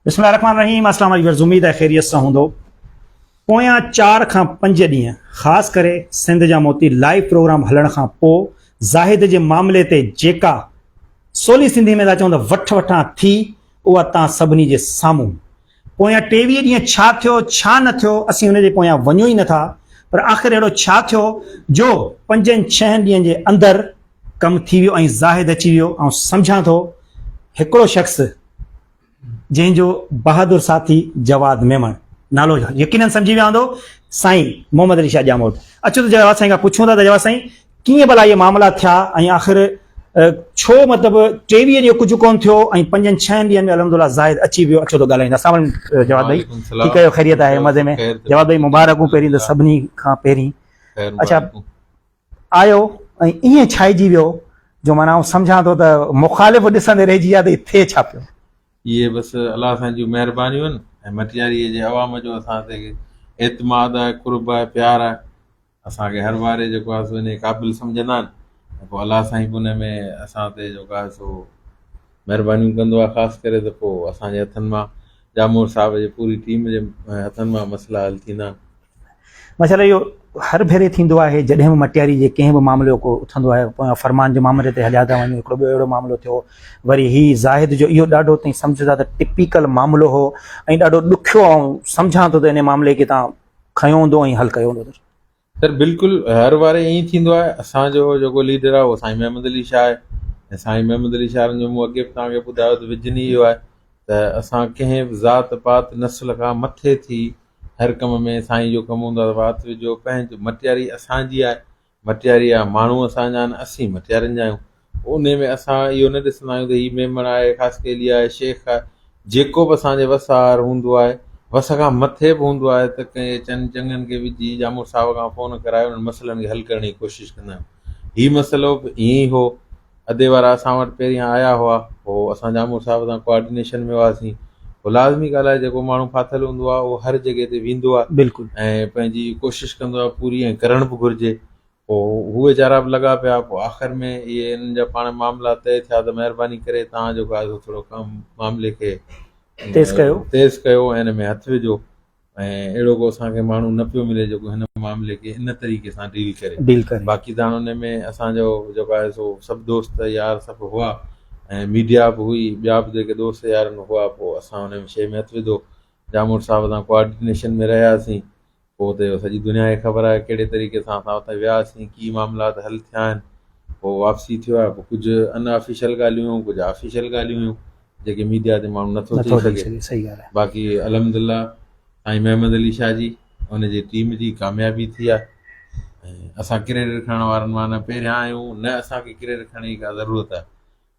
بسم الله الرحمن الرحيم اسلام عليڪم ويورز اميد آهي خيريت سان هوندو پويان چار کان پنج ڏينهن خاص ڪري سنڌ جا موتي لائيو پروگرام هلڻ کان پوء زاهد جي معاملي تي جيڪا سولي سنڌي ۾ ٿا چون ته وٺ وٺان ٿي اها تان سڀني جي سامهون پويان ٽيويهه ڏينهن ڇا ٿيو ڇا نه ٿيو اسين ان جي پويان وڃون ئي نٿا پر آخر اهڙو ڇا ٿيو جو پنجن ڇهن ڏينهن جي اندر ڪم ٿي ويو ۽ زاهد اچي ويو. آئون سمجهان ٿو هڪڙو شخص جنهن جو بهادر ساٿي جواد ميمڻ نالو يقينن سمجهي ويو هوندو سائين محمد علي شاهه ڄاموٽ اچو ته جواد سائين کان پڇون ٿا ته جواد سائين ڪيئن ڀلا اهي معاملا ٿيا ۽ آخر ڇو مطلب ٽيويهه ڏينهن ڪجهه ڪون ٿيو ۽ پنجن ڇهن ڏينهن ۾ الحمد لله زاهد اچي ويو اچو ته ڳالهائين اسلام عليڪم جواد ڀائي ٺيڪ آهيو خيريت آهي مزي ۾ جواد ڀائي مبارڪون پهرين ته سڀني کان پهرين اچا آيو ۽ ائين ڇائجي ويو جو معنيٰ آئون سمجهان ٿو ته مخالف ڏسندي رهجي ويا ته هي ٿئي ڇا پيو. اهي بس الله سائين جون مهربانيون آهن ۽ مٽياريء جي عوام جو اسان تي اعتماد آهي، قرب آهي، پيار آهي. اسان کي هر واري جيڪو آهي سو انهيء قابل سمجهندا آهن ۽ پوء الله سائين به ان ۾ اسان تي جيڪو آهي سو. مهربانيون ڪندو آهي خاص ڪري ته پوء اسان جي هٿن مان ڄامور صاحب جي پوري ٽيم جي هٿن مان مسئلا حل ٿيندا. ماشاءالله اهو هر ڀيري ٿيندو آهي جڏهن به مٽياري جي ڪنهن به معاملو ڪو اٿندو آهي پويان فرمان جي معاملي تي هليا ٿا وڃون هڪڙو ٻيو اهڙو معاملو ٿيو وري هي زاهد جو اهو ڏاڍو تئين سمجهه ٿا ته ٽپيڪل معاملو هو ۽ ڏاڍو ڏکيو آئون سمجهان ٿو ته انهي معاملي کي تان کنيو هوندو ۽ حل ڪيو هوندو سر بلڪل هر واري ائين ئي ٿيندو آهي اسان جو جيڪو ليڊر آهي اهو سائين محمد علي شاهه آهي ۽ سائين محمد علي شاهه جو مون اڳي به توهان کي ٻڌايو ته وجن ئي اهو آهي ته اسان ڪنهن به ذات پات نسل کان مٿي ٿي هر ڪم ۾ سائين جو ڪم هوندو آهي وات وجهو پنهنجو مٽياري اسان جي آهي مٽياري آهي ماڻهو اسان جا آهن اسين مٽيارين جا آهيون انهيء ۾ اسان اهو نه ڏسندا آهيون ته هي ميمڻ آهي، خاصخيلي آهي، شيخ آهي، جيڪو به اسان جي وس آهر هوندو آهي، وس کان مٿي به هوندو آهي ته ڪنهن چند چڱن کي وجهي يا مڙهه صاحب کان فون ڪرائي انهن مسئلن کي حل ڪرڻ جي ڪوشش ڪندا آهيون. هي مسئلو به ائين ئي هو. ادي وارا اسان وٽ پهريان آيا هئا، پوء اسان جامور صاحب سان ڪوآرڊينيشن ۾ هئاسين. پوء لازمي ڳالهه آهي جيڪو ماڻهو ڦاٿل هوندو آهي اهو هر جڳهه تي ويندو آهي ۽ پنهنجي ڪوشش ڪندو آهي پوري ۽ ڪرڻ به گهرجي. پوء هو ويچارا به لڳا پيا. پوء آخر ۾ اهي انهن جا پاڻ معاملا طئي ٿيا ته مهرباني ڪري توهان جيڪو آهي سو ٿورو ڪم معاملي کي تيز ڪيو تيز ڪيو ۽ ان ۾ هٿ وجهو ۽ اهڙو ڪو اسان کي ماڻهو نه پيو ملي جيڪو هن معاملي کي ان طريقي سان ڊيل ڪري ڊيل ڪري باقي ته هاڻ ان ۾ اسان جو جيڪو آهي سو سڀ دوست يار سڀ هئا ۽ ميڊيا به هئي ٻيا به جيڪي دوست يار هئا پوء اسان ان شيء ۾ هٿ وڌو جاموٽ صاحب سان ڪوآرڊينيشن ۾ رهياسين پوء ته اهو سڄي دنيا کي خبر آهي ڪهڙي طريقي سان اسان اتي وياسين، ڪي معاملات حل ٿيا آهن، پوء واپسي ٿيو آهي، پوء ڪجهه ان آفيشل ڳالهيون هيون، ڪجهه آفيشل ڳالهيون هيون، جيڪي ميڊيا تي ماڻهو نٿو چئي سگهي. باقي الحمدلله سائين محمد علي شاهه جي ان جي ٽيم جي ڪاميابي ٿي آهي ۽ اسان ڪريڊٽ کڻڻ وارن مان نه پهريان آهيون، نه اسان کي ڪريڊٽ کڻڻ جي ڪا ضرورت آهي.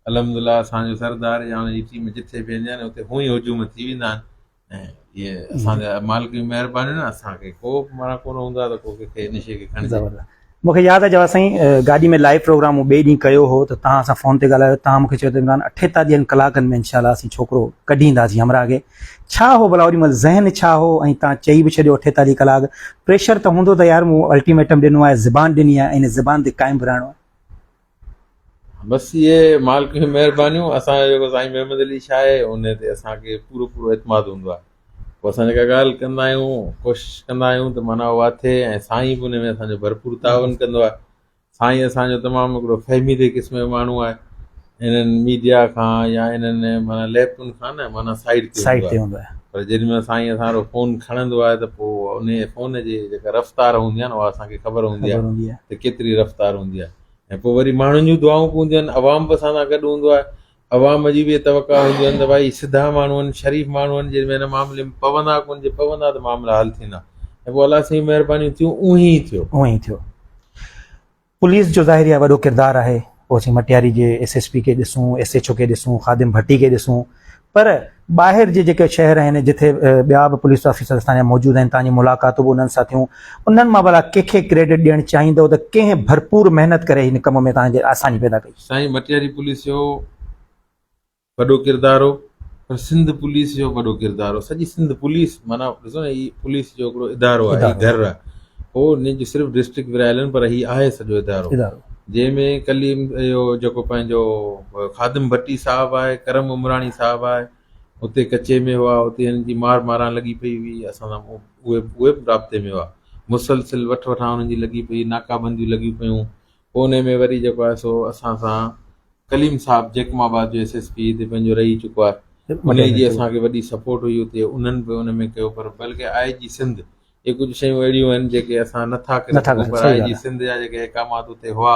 الحمدلله اسان جو سردار يا ان جي ٽيم جتي به ويندي آهي نه اتي هونئن هجوم ٿي ويندا آهن، مونکي ياد آهي جواد سائين گاڏي ۾ لائيو پروگرام مون ٻئي ڏينهن ڪيو هو ته توهان سان فون تي ڳالهايو توهان مونکي چيو ته عمران اٺيتاليهن ڪلاڪن ۾ انشاء الله اسين ڇوڪرو ڪڍي اينداسين همراهه کي ڇا هو ڀلا اوڏي مهل ذهن ڇا هو ۽ توهان چئي به ڇڏيو اٺيتاليهه ڪلاڪ پريشر ته هوندو ته يار مون الٽيميٽم ڏنو آهي زبان ڏني آهي ۽ ان زبان تي قائم به رهڻو آهي. بس اهي مالڪ جون مهربانيون اسان جو جيڪو سائين محمد علي شاهه آهي ان تي اسان کي پورو پورو اعتماد هوندو آهي پوء اسان جيڪا ڳالهه ڪندا آهيون ڪوشش ڪندا آهيون ته معنيٰ اها ٿئي ۽ سائين به ان ۾ اسان جو ڀرپور تعاون ڪندو آهي سائين اسان جو تمام هڪڙو فهميدي قسم جو ماڻهو آهي انهن ميڊيا کان يا انهن معنيٰ ليپن کان نه معنيٰ سائيڊ تي سائيڊ تي هوندو آهي پر جيڏي مهل سائين اسان وٽ فون کڻندو آهي ته پوء ان فون جي جيڪا رفتار هوندي آهي نه اها اسان کي خبر هوندي آهي ته ڪيتري رفتار هوندي آهي ۽ پوء وري ماڻهن جون دعائون به هونديون آهن عوام به اسان سان گڏ هوندو آهي عوام جي به اهي توقع هونديون آهن ته ڀائي سڌا ماڻهو آهن شريف ماڻهو آهن جن هن معاملي ۾ پوندا ڪو نه جي پوندا ته معاملا حل ٿيندا ۽ پوء الله سائين جون مهربانيون ٿيون اونهي ئي ٿيو اونهي ئي ٿيو پوليس جو ظاهر اها وڏو ڪردار آهي پوء اسين مٽياري جي ايس ايس پي کي ڏسون ايس ايڇ او کي ڏسون خادم ڀٽي کي ڏسون پر ٻاهر جي جيڪي شهر آهن جتي ٻيا به پوليس آفيسر اسان جا موجود آهن تانجي ملاقاتون به انهن سان ٿيون انهن مان ڀلا ڪنهن کي ڪريڊٽ ڏيڻ چاهيندو ته ڪنهن ڀرپور محنت ڪري هن ڪم ۾ تان جي آساني پيدا ڪئي. سائين مٽياري پوليس جو وڏو ڪردار هو پر سنڌ پوليس جو وڏو ڪردار هو سڄي سنڌ پوليس معنيٰ ڏسو نه هي پوليس جو هڪڙو ادارو آهي هي گهر آهي هو نج صرف ڊسٽرڪٽ ورهايلن پر هي آهي سڄو ادارو جنهن ۾ ڪليم اهو جيڪو پنهنجو خادم ڀٽي صاحب آهي ڪرم عمراڻي صاحب آهي اتي ڪچي ۾ هئا اتي هنن جي مار ماران لڳي پئي هئي اسان سان اهي اهي به رابطي ۾ هئا مسلسل وٺ وٺان هنن جي لڳي پئي ناڪا بنديون لڳيون پيون پوء ان ۾ وري جيڪو آهي سو اسان سان ڪليم صاحب جيڪم آباد جو ايس ايس پي هتي پنهنجو رهي چڪو آهي ان جي اسانکي وڏي سپورٽ هئي اتي انهن به ان ۾ ڪيو پر بلڪه آء جي سنڌ اهي ڪجهه شيون اهڙيون آهن جيڪي اسان نه ٿا ڪري سگهون پر آء جي سنڌ جا جيڪي احڪامات اتي هئا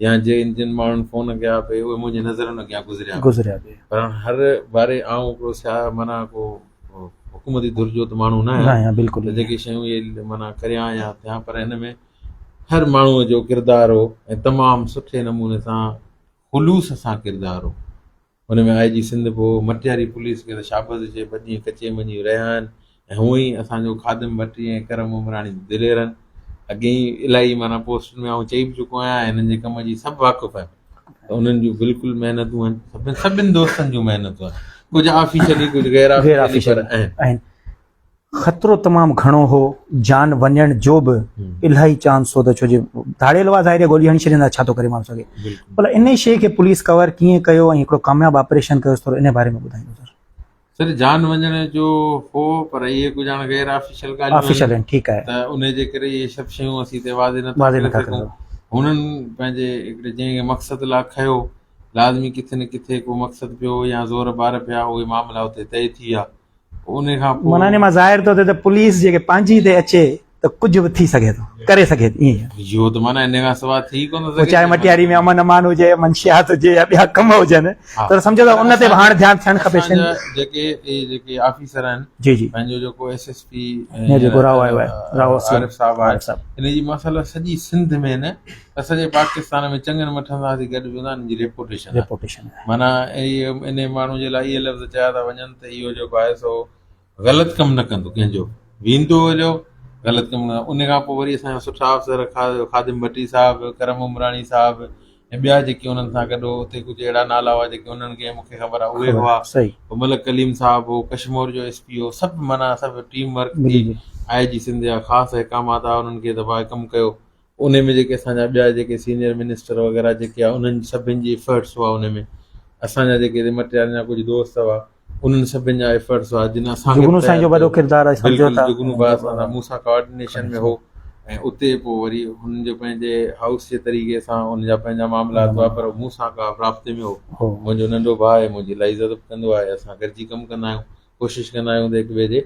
يا جن جن ماڻهن فون ڪيا پئي اهي منهنجي نظرن اڳيان گذريا گذريا پئي پر هر باري آئون هڪڙو سياح معنيٰ ڪو حڪومتي ڌر جو ته ماڻهو نه آهيان بلڪل جيڪي شيون اهي معنيٰ ڪريان يا ٿيان پر هن ۾ هر ماڻهوء جو ڪردار هو ۽ تمام سٺي نموني سان خلوص سان ڪردار هو ان ۾ آء جي سنڌ ڀو مٽياري پوليس کي ته شابس چئي ٻه ڏينهن ڪچي مڃي رهيا آهن ۽ هونء ئي اسان جو خادم ڀٽي ۽ ڪرم عمراڻي ته دليرن اڳيئي الاهي معنيٰ پوسٽن ۾ آئون چئي به چڪو آهيان ۽ هنن جي ڪم جي سڀ واقف آهن ته انهن جون بلڪل محنتون هن سڀن سڀن دوستن جون محنتون آهن ڪجهه آفيشلي ڪجهه غير آفيشلي پر آهن خطرو تمام گهڻو هو، جان وڃڻ جو به الاهي چانس هو ته ڇو جو ڌاڙيل هئا ظاهر گولي هڻي ڇڏيندا ڇا ٿو ڪري ماڻهو سگهي بلا انهي شيء کي پوليس ڪور ڪيئن ڪيو ۽ هڪڙو ڪامياب آپريشن ڪيو ٿورو انهي باري ۾ ٻڌائيندو سر. سر جان وڃڻ جو هو پر اهي ڪجهه هاڻي غير آفيشل ڳالهيون آهن ٺيڪ آهي ته انهي جي ڪري اهي سڀ شيون اسين هتي واضح نٿا ڪري سگهون هنن پنهنجي هڪڙي جنهن کي مقصد لاء کنيو لازمي ڪٿي نه ڪٿي ڪو مقصد پيو يا زور بار پيا اهي معاملا اتي طئي ٿي ويا معنيٰ ان مان ظاهر ٿو ٿئي ته پوليس جيڪي پنهنجي تي اچي ته ڪجهه به ٿي سگهي ٿو، ڪري سگهي ٿي. پوء چاهي مٽياري ۾ امن امان هجي، منشيات هجي يا ٻيا ڪم هجن ته سمجهو ته ان تي به هاڻ ڌيان ٿيڻ کپي. اسان جي پاڪستان ۾ چڱن مٺن سان ٿي گڏ بيهوندا انهن جي ريپوٽيشن ريپوٽيشن معنيٰ انهي ماڻهو جي لاء اهي لفظ چيا ٿا وڃن ته اهو جيڪو آهي سو غلط ڪم نه ڪندو ڪنهن جو ويندو جو غلط ڪم نه ان کان پوء وري اسان جا سٺا افسر خادم ڀٽي صاحب ڪرم عمراڻي صاحب ۽ ٻيا جيڪي انهن سان گڏ هو اتي ڪجهه اهڙا نالا هئا جيڪي انهن کي مون کي خبر آهي اهي هئا صحيح ملڪ ڪليم صاحب هو ڪشمور جو ايس پي هو سڀ معنيٰ سڀ ٽيم ورڪ ٿي آئي جي سنڌ جا خاص احڪامات آ انهن کي دبائي ڪم ڪيو انهي ۾ جيڪي اسان جا ٻيا جيڪي سينئر منسٽر وغيره جيڪي آ انهن سڀن جي ايفرٽس هئا انهي ۾ اسان جا جيڪي ري مٽيارن جا ڪجهه دوست هئا انهن سڀن جا ايفرٽس هئا جن اسان کي جگنو سائين جو وڏو ڪردار آهي سمجهو بلڪل ٿا جگنو ڀاء اسان سان مون سان ڪوآرڊينيشن ۾ هو ۽ اتي پوء وري هن جو پنهنجي هائوس جي طريقي سان ان جا پنهنجا معاملات هئا پر مون سان ڪا رابطي ۾ هو هو منهنجو ننڍو ڀاء آهي منهنجي الاهي عزت به ڪندو آهي اسان گڏجي ڪم ڪندا آهيون ڪوشش ڪندا آهيون ته هڪ ٻئي جي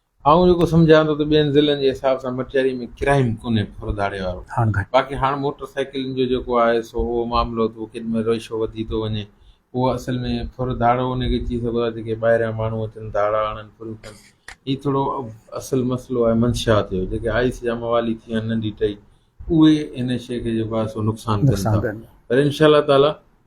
آئون جيڪو سمجهان ٿو ته ٻين ضلعن جي حساب سان مٽياري ۾ ڪرائيم ڪونهي ڦر ڌاڙي وارو هاڻ گهٽ باقي هاڻ موٽر سائيڪلن جو جيڪو آهي سو اهو معاملو اٿو ڪيڏمهل رئشو وڌي ٿو وڃي اهو اصل ۾ ڦر ڌاڙو ان کي چئي سگهو ٿا جيڪي ٻاهريان ماڻهو اچن ڌاڙا آڻن ڦريون ڪن هي ٿورو اصل مسئلو آهي منشا ٿيو جيڪي آئيس جا موالي ٿي ويا آهن ننڍي ٽئي اهي هن شيء کي جيڪو آهي سو نقصان ڪن نقصان ٿا ڪن پر انشاء الله تعاليٰ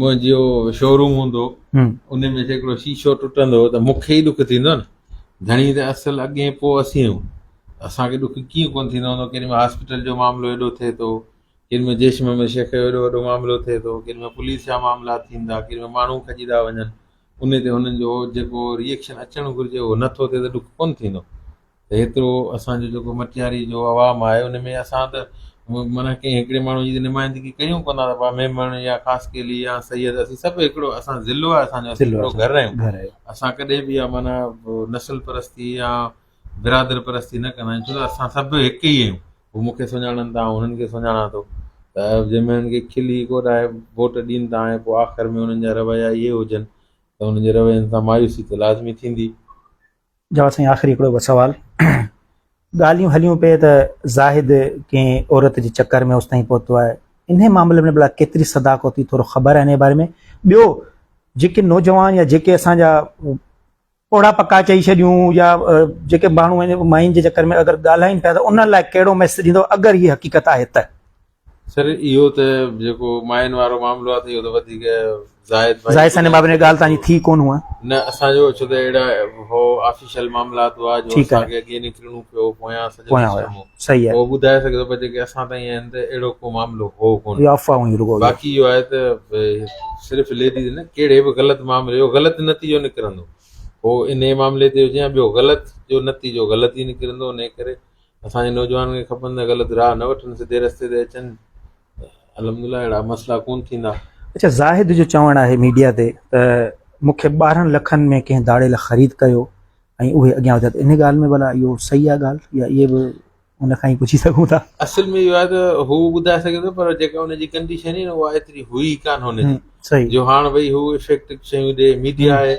منهنجو شوروم هوندو ان ۾ جيڪڙو شيشو ٽٽندو ته مون کي ئي ڏک ٿيندو نه ڌڻي ته اصل اڳين پوء اسين آهيون اسان کي ڏک ڪيئن ڪونه ٿيندو هوندو ڪيڏي مهل هاسپيٽل جو معاملو ايڏو ٿئي ٿو ڪيڏي مهل جيش محمد شيخ جو ايڏو وڏو معاملو ٿئي ٿو ڪيڏي مهل پوليس جا معاملا ٿين ٿا ڪيڏي مهل ماڻهو کڄي ٿا وڃن ان تي هنن جو جيڪو ريئڪشن اچڻ گهرجي اهو نٿو ٿئي ته ڏک ڪونه ٿيندو ته هيترو اسان جو جيڪو مٽياري جو عوام آهي ان ۾ اسان ته معنيٰ ڪنهن هڪڙي ماڻهو جي ته نمائندگي ڪريون ڪونه ٿا پاڻ ميمڻ يا خاص ڪيلي يا سيد اسين سڀ هڪڙو اسان ضلعو آهي اسان جو اسان ضلعو هڪڙو اسان گهر جو آهيون گهر آهي اسان ڪڏهن به اها معنيٰ نسل پرستي يا برادر پرستي نه ڪندا آهيون ڇو ته اسان سڀ هڪ ئي آهيون هو مون کي سڃاڻن ٿا آئون هنن کي سڃاڻان ٿو ته جنهن مهل هنن کي کلي ڪوڏائي ووٽ ڏين ٿا ۽ پوء آخر ۾ هنن جا رويا اهي هجن ته هنن جي روين سان مايوسي ته لازمي ٿيندي جواب، سائين آخري هڪڙو به سوال ڳالهيون هليون پئي ته زاهد ڪنهن عورت جي چڪر ۾ اوستائين پهتو آهي انهي معاملي ۾ ڀلا ڪيتري صداقت ٿي ٿورو خبر آهي انهي باري ۾ ٻيو جيڪي نوجوان يا جيڪي اسان جا پوڙها پڪا چئي ڇڏيون يا جيڪي ماڻهو ماين جي چڪر ۾ اگر ڳالهائين پيا ته انهن لاء ڪهڙو ميسيج ڏيندو اگر هي حقيقت آهي ته. سر اهو ته جيڪو ماين وارو معاملو آهي ته اهو ته وڌيڪ زاهد ڀائي زاهد سائين بابا جي ڳالهه تان جي ٿي ڪون هئا نه اسان جو ڇو ته اهڙا هو آفيشل معاملا تو آ جو ٺيڪ آهي. اسان کي اڳي نڪرڻو پيو پويان سڄو پويان هيا. سسٽم هو صحيح آهي هو ٻڌائي سگهي ٿو پر جيڪي اسان تائين آهن ته اهڙو ڪو معاملو هو ڪون اهي افواهون هيون رڳو اهي. باقي اهو آهي ته به صرف ليڊيز نه ڪهڙي به غلط معاملي جو غلط نتيجو نڪرندو هو انهي معاملي تي هجي يا ٻيو غلط جو نتيجو غلط ئي نڪرندو انهي ڪري اسان جي نوجوانن کي کپن ته غلط راھ نه وٺن سڌي رستي تي اچن الحمدلله اھڙا مسئلا ڪون ٿيندا. اچا زاهد جو چوڻ آهي ميڊيا تي ته مون کي ٻارهن لکن ۾ ڪنهن ڌاڙيل خريد ڪيو ۽ اهي اڳيان وڌيا ته ان ڳالهه ۾ ڀلا اهو صحيح آهي ڳالهه يا اهي به ان کان ئي پڇي سگهون ٿا. اصل ۾ اهو آهي ته هو ٻڌائي سگهي ٿو پر جيڪا ان جي ڪنڊيشن هئي نه اها ايتري هئي ئي ڪانه هن جي جو هاڻ وئي هو افيڪٽ شيون ڏي ميڊيا آهي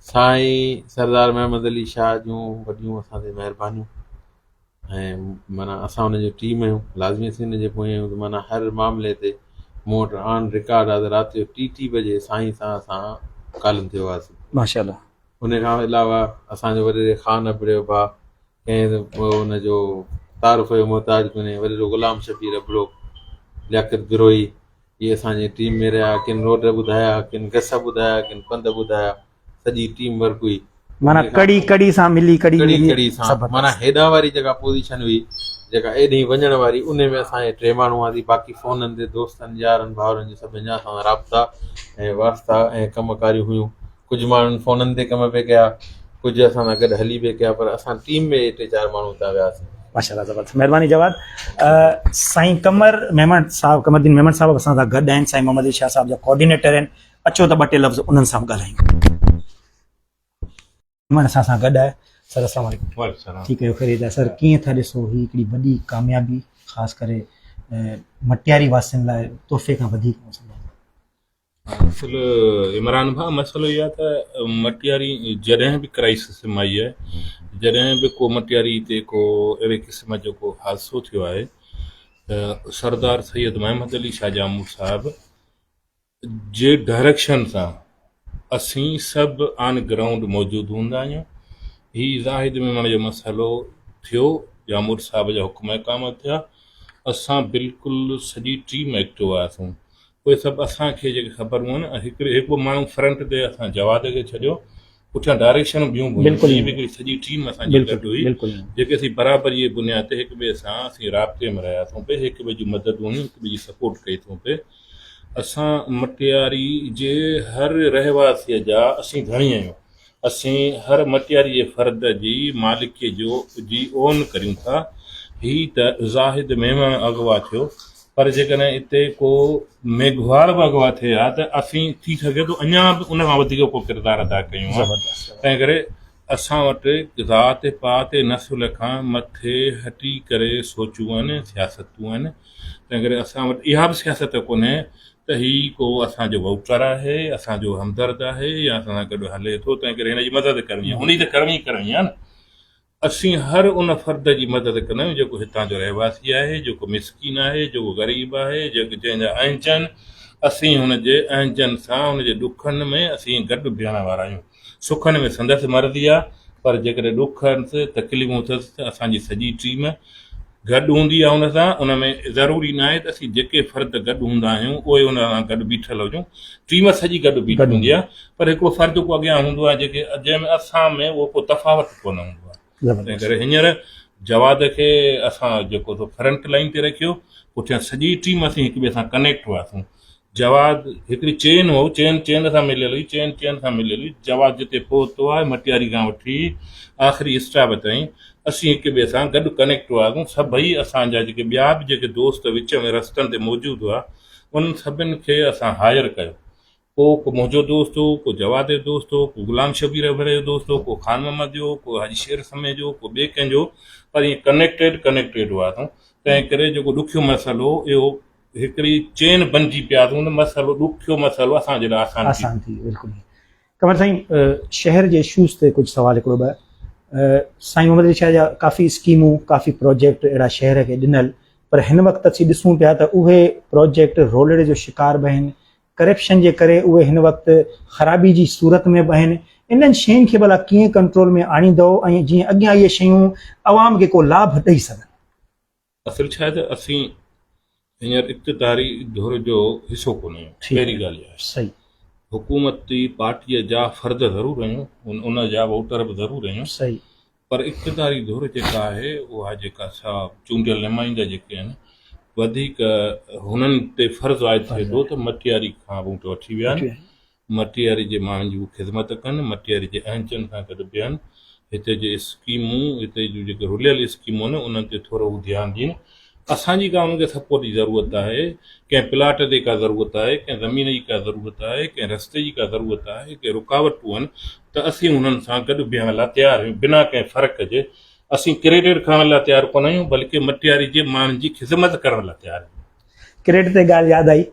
سائين سردار محمد علي شاهه جون وڏيون اسان تي مهربانيون ۽ معنيٰ اسان ان جو ٽيم آهيون لازمي سين ان جي پويان آهيون ته معنيٰ هر معاملي تي مون وٽ آن رڪارڊ آهي ته رات جو ٽي ٽي بجي سائين سان اسان ڪالم تي هئاسين ماشاءالله ان کان علاوه اسان جو وڏيري خان ابڙي جو ڀاء ڪنهن به ان جو تعارف جو محتاج ڪونهي، وري رڳو غلام شبير ابڙو، لياقت بروهي اهي اسان جي ٽيم ۾ رهيا، ڪن روڊ ٻڌايا، ڪن گس ٻڌايا، ڪن پنڌ ٻڌايا، سڄي ٽيم ورڪ هئي، معنيٰ ڪڙي ڪڙي سان ملي ڪڙي ڪڙي ملي ڪڙي سان، سبق معنيٰ هيڏانهن واري جيڪا پوزيشن هئي، جيڪا ايڏهين وڃڻ واري انهي ۾ اسان هي ٽي ماڻهو هئاسين، باقي فونن تي دوستن يارن ڀائرن جي سڀني جا اسان سان رابطا ۽ واسطا ۽ ڪم ڪاريون هيون. ڪجهه ماڻهن فونن تي ڪم به ڪيا ڪجهه اسان سان گڏ هلي به ڪيا پر اسان ٽيم ۾ اهي ٽي چار ماڻهو اتان وياسين. ماشاءالله زبردست مھرباني جواد سائين قمر ميمڻ صاحب قمر الدين ميمڻ صاحب اسان سان گڏ آهن سائين محمد علي شاھ صاحب جا ڪوآرڊينيٽر آهن اچو ته ٻه ٽي لفظ انهن سان به ڳالهايون ميمڻ اسان سان گڏ آهي سر السلام عليڪم وعليڪم السلام ٺيڪ آهيو خيريت آهي سر ڪيئن ٿا ڏسو هي هڪڙي وڏي ڪاميابي خاص ڪري مٽياري واسين لاء تحفي کان وڌيڪ اصل عمران ڀا مسئلو اهي آهي ته مٽياري جڏهن به ڪرائسس ۾ آئي آهي جڏهن به ڪو مٽياري تي ڪو اهڙي قسم جو ڪو حادثو ٿيو آهي ته سردار سيد محمد علي شاهه جامور صاحب جي ڊائريڪشن سان اسين سڀ آن گرائونڊ موجود هوندا آهيون هي زاهد ميمڻ جو مسئلو ٿيو جامور صاحب جا حڪم احڪام ٿيا اسان بلڪل سڄي ٽيم ايڪٽو آياسون اهي سڀ اسان کي جيڪي خبرون آهن هڪڙي هڪ ٻه ماڻهو فرنٽ تي اسان جواد کي ڇڏيو پٺيان ڊائريڪشنون ٻيون به هيون ٽيم هڪڙي سڄي ٽيم اسان جي گڏ هئي جيڪي اسين برابري جي بنياد تي هڪ ٻئي سان اسين رابطي ۾ رهيا ٿون پئي هڪ ٻئي جون مددون هيون هڪ ٻئي جي سپورٽ ڪئي ٿون پئي اسان مٽياري جي هر رهواسي جا اسين ڌڻي آهيون اسين هر مٽياريء فرد جي مالڪيء جو جي اون ڪريون ٿا. هي ته زاهد ميمڻ اغوا ٿيو، پر جيڪڏهن اتي ڪو ميگهواڙ به اغوا ٿئي ها ته اسين ٿي سگهي ٿو اڃا به ان کان وڌيڪ ڪو ڪردار ادا ڪيون ها. تنهنڪري اسان وٽ ذات پات نسل کان مٿي هٽي ڪري سوچون آهن، سياستون آهن. تنهنڪري اسان وٽ اها به سياست ڪونهي ته هي ڪو اسان جو ووٽر آهي، اسان جو همدرد آهي يا اسان سان گڏ هلي ٿو، تنهن ڪري هن جي مدد ڪرڻي آهي. انهي ته ڪرڻي ئي ڪرڻي آهي نه. اسين هر ان فرد جي مدد ڪندا آهيون، جيڪو هتان جو رهواسي آهي، جيڪو مسڪين آهي، جيڪو غريب آهي، جيڪو جنهن جا اهنجن، اسين هن جي اهنجن سان، هن جي ڏکن ۾ اسين گڏ بيهڻ وارا آهيون. سکن ۾ سندس مرضي آ پر جيڪڏهن ڏک ۽ تڪليفون اٿس ته اسان جي سڄي ٽيم گڏ هوندي آ ان سان، ان ۾ ضروري ناهي ته اسين جيڪي فرد گڏ هوندا آهيون اهي ان سان گڏ بيٺل هجون ٽيم سڄي گڏ بيٺي هوندي آ پر هڪڙو فرد ڪو اڳيان هوندو آ جيڪي جنهن ۾ اسان ۾ اهو ڪو تفاوت ڪونه هوندو آ. تنهن ڪري هينئر جواد کي اسان جيڪو سو فرنٽ لائين تي رکيو پٺيان سڄي ٽيم اسين هڪ ٻئي سان ڪنيڪٽ هئاسون جواد هڪڙي چين هو چين چين سان مليل هئي چين چين سان مليل هئي جواد جتي پهتو آهي مٽياري کان وٺي آخري اسٽاپ تائين اسين هڪ ٻئي سان گڏ ڪنيڪٽ هئاسون سڀئي اسان جا جيڪي ٻيا به جيڪي دوست وچ ۾ رستن تي موجود هئا انهن سڀن کي اسان هائر ڪيو پوء ڪو منهنجو دوست هو، ڪو جواد جو دوست هو، ڪو غلام شبير اڀڙي جو دوست هو، ڪو خان محمد جو، ڪو حاجي شير سمي جو، ڪو ٻئي ڪنهن جو، پر ائين ڪنيڪٽيڊ ڪنيڪٽيڊ هئاسون، تنهن ڪري جيڪو ڏکيو مسئلو هو، اهو هڪڙي چين بنجي پياسون ته مسئلو ڏکيو مسئلو اسان جي لاء آسان ٿي آسان ٿي بلڪل ائين. قمر سائين شهر جي اشوز تي ڪجهه سوال هڪڙو ٻه سائين محمد علي شاهه جا ڪافي اسڪيمون ڪافي پروجيڪٽ اهڙا شهر کي ڏنل پر هن وقت اسين ڏسون پيا ته اهي پروجيڪٽ رولڙي جو شڪار به آهن ڪرپشن جي ڪري اهي هن وقت خرابي جي صورت ۾ به آهن، انهن شين کي ڀلا ڪيئن ڪنٽرول ۾ آڻيندؤ ۽ جيئن اڳيان اهي شيون عوام کي ڪو لاڀ ڏئي سگهن. اصل ڇا آهي ته اسين هينئر اقتداري ڌر جو حصو ڪونه آهيون پهرين ڳالهه اها آهي. حڪومتي پارٽيء جا فرد ضرور آهيون ان جا ووٽر به ضرور آهيون پر اقتداري ڌر جيڪا آهي اها جيڪا سا چونڊيل نمائندا جيڪي آهن وڌيڪ هنن تي فرض عائد ٿئي ٿو ته مٽياري کان ووٽ وٺي ويا آهن مٽياري جي ماڻهن جي هو خدمت ڪن مٽياري جي اهنجن کان گڏ بيهن هتي جي اسڪيمون هتي جون جيڪي رليل اسڪيمون آهن انهن تي ٿورو هو ڌيان ڏين اسان جي ڪا انهن کي سپورٽ جي ضرورت آهي، ڪنهن پلاٽ جي ڪا ضرورت آهي، ڪنهن زمين جي ڪا ضرورت آهي، ڪنهن رستي جي ڪا ضرورت آهي، ڪي رڪاوٽون آهن ته اسين انهن سان گڏ بيهڻ لاء تيار آهيون بنا ڪنهن فرق جي، اسين ڪريڊٽ کڻڻ لاء تيار ڪونه آهيون بلڪه مٽياري جي ماڻهن جي خدمت ڪرڻ لاء تيار آهيون. ڪريڊٽ تي ڳالهه ياد آئي،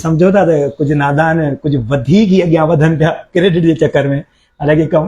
سمجهو ٿا ته ڪجهه نادان ڪجهه وڌيڪ ئي اڳيان وڌن پيا ڪريڊٽ جي چڪر ۾ الاء ڪي ڪم.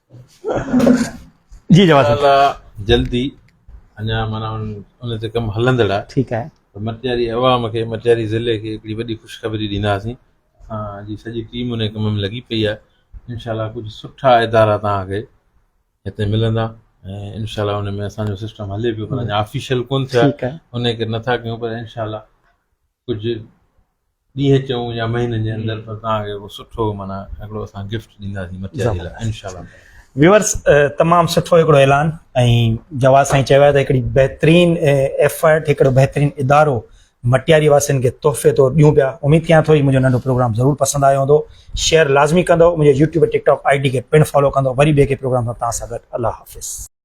جي جواد صاحب انشاء الله جلدي اڃا معنيٰ ان تي ڪم هلندڙ آهي ٺيڪ آهي ته مٽياري عوام کي مٽياري ضلعي کي هڪڙي وڏي خوشخبري ڏينداسين اسان جي سڄي ٽيم ان ڪم ۾ لڳي پئي آهي انشاء الله ڪجهه سٺا ادارا توهان کي هتي ملندا ۽ انشاء الله ان ۾ اسان جو سسٽم هلي پيو پر اڃا آفيشل ڪون ٿيو ٺيڪ آهي آهي ان ڪري نٿا ڪيون پر انشاء الله ڪجهه ڏينهن چئون يا مهينن جي اندر پر توهان کي هڪڙو سٺو معنيٰ هڪڙو اسان گفٽ ڏينداسين مٿيا جي لاء انشاء الله تعالٰي. ويورز تمام سٺو هڪڙو اعلان ۽ جواز سائين چيو آهي ته هڪڙي بهترين ايفرٽ هڪڙو بهترين ادارو مٽياري واسين کي تحفي طور ڏيون پيا اميد ڪيان ٿو هي منهنجو ننڍو پروگرام ضرور پسند آيو هوندو شيئر لازمي ڪندو منهنجي YouTube TikTok I D کي پڻ فالو ڪندو وري ٻئي ڪنهن پروگرام سان توهان سان گڏ الله حافظ.